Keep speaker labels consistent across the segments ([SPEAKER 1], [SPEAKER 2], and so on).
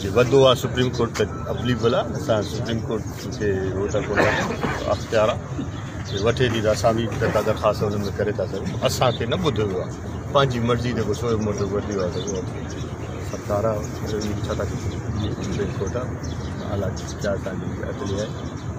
[SPEAKER 1] جي وڌو آ سپريم ڪورٽ تي اپليبل آ اسان سپريم ڪورٽ کي هو ته ڪونه اختيار آ جي وٺي ٿي ته اسان به ڪا درخواست ان ۾ ڪري ٿا سگهون اسان کي نه ٻڌو ويو آ پنهنجي مرضي جيڪو سوئي موٽو ورتي آ سگهو سرڪار آ ڇا ٿا ڪري سپريم ڪورٽ آ حالات جي جاچ ڪرڻ جي اڳلي آهي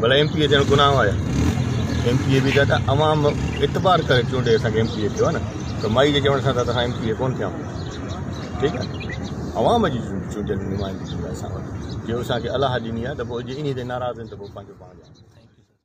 [SPEAKER 1] ڀلا ايم پي اي ٿيڻ گناهه آهي ايم پي اي به ته عوام اعتبار ڪري چونڊي اسان کي ايم پي اي ٿيو نه ته مائي جي چوڻ سان ته اسان ايم پي اي ڪون ٿيا ٺيڪ آهي عوام جي چونڊيل نمائندگي اسان وٽ جو اسان کي الله ڏني آهي ته پوء جي انهي تي ناراض آهن ته پوء پنهنجو پاڻ